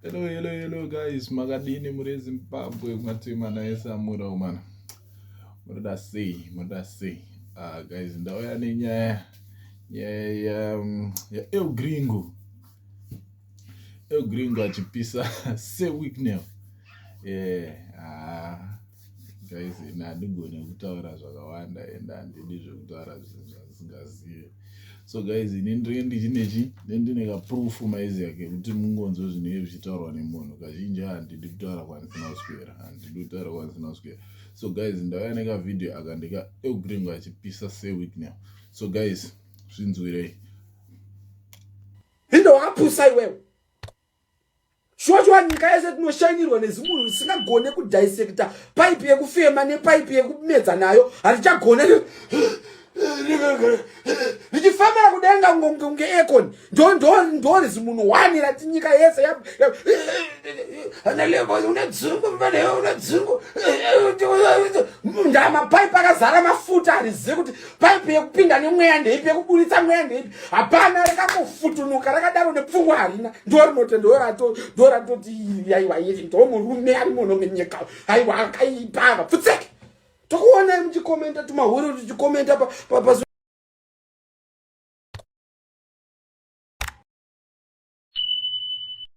Hello, hello, hello guys, makadini muri eZimbabwe matema naye samura umana. Munoda sei, munoda sei. Ah guys, ndauya nenyaya nyaya ya um, ya El Gringo. El Gringo achipisa se week now. Yeah. Ah. guys ini handigone kutaura zvakawanda and handidi zvekutaura zvinhu zvasingazive so guys ini ndinenge ndichinechi ndine kaproof maizi yake kuti mungonzwe zvinenge zvichitaurwa nemunhu kazhinji handidi kutaura kwandisina kuswera handidi kutaura kwandisina kuswera so guys ndauya nekavideo aka ndika eugreengo achipisa seweek now so guys zvinzwirei indowapusa iwewe shuwa shuwa nyika yese tinoshainirwa nezimunhu risingagone kudhisekta paipi yekufema nepaipi yekumedza nayo hatichagone richifemera kudenga kunge econ ndori zimunhu wani rati nyika yese ndamapaipi akazara mafuta harizivi kuti paipi yekupinda nemweya ndeipi yekuburitsa mweya ndeipi hapana rakakofutunuka rakadaro nepfungwa harina ndorinote ndorato ndoratoti aiwa iri ndomurume ari muno menyika aiwa akaipa ava pfutseke tokuonai muchikomenta tumahuri tuchikomenta pa, pa, pa